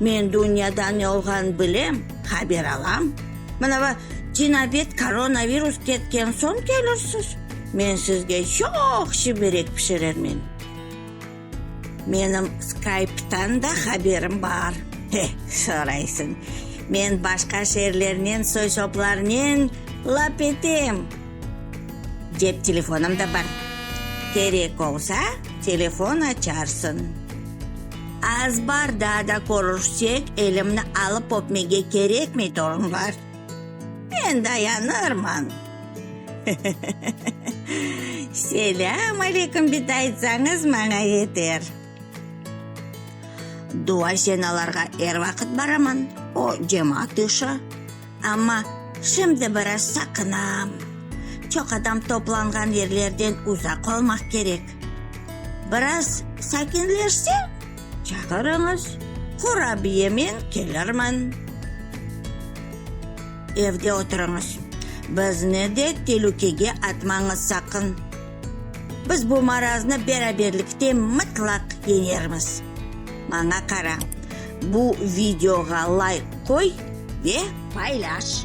Men dünyada ne olğanını bilem, haber alam. Mana bu cinabet koronavirus ketken soñ kelirsiz, men sizge çoqşı berek pişirermen. Menim Skype'tan da haberim bar. He, soraysıñ, men başqa şeerlernen soy-soplarnen lap etem. Cep telefonım da bar, kerek olsa, telefon açarsıñ. Az bar, daa da körüşsek, elimni alıp öpmege kerekmey, torunlar? Men dayanırman. Selâm aleyküm bit aytsañız, maña yeter. Dua-senalarğa er vaqıt baraman, o, cemaat işi. Amma şimdi biraz saqınam. Çoq adam toplanğan yerlerden uzaq olmaq kerek. Biraz sakinleşse, çağırıñız, qurabiyemen kelirmen. Evde oturıñız. Bizni de telükege atmañız saqın. Biz bu maraznı beraberlikte mıtlaq yeñermiz. Maña qara. Bu videoğa layk qoy ve paylaş!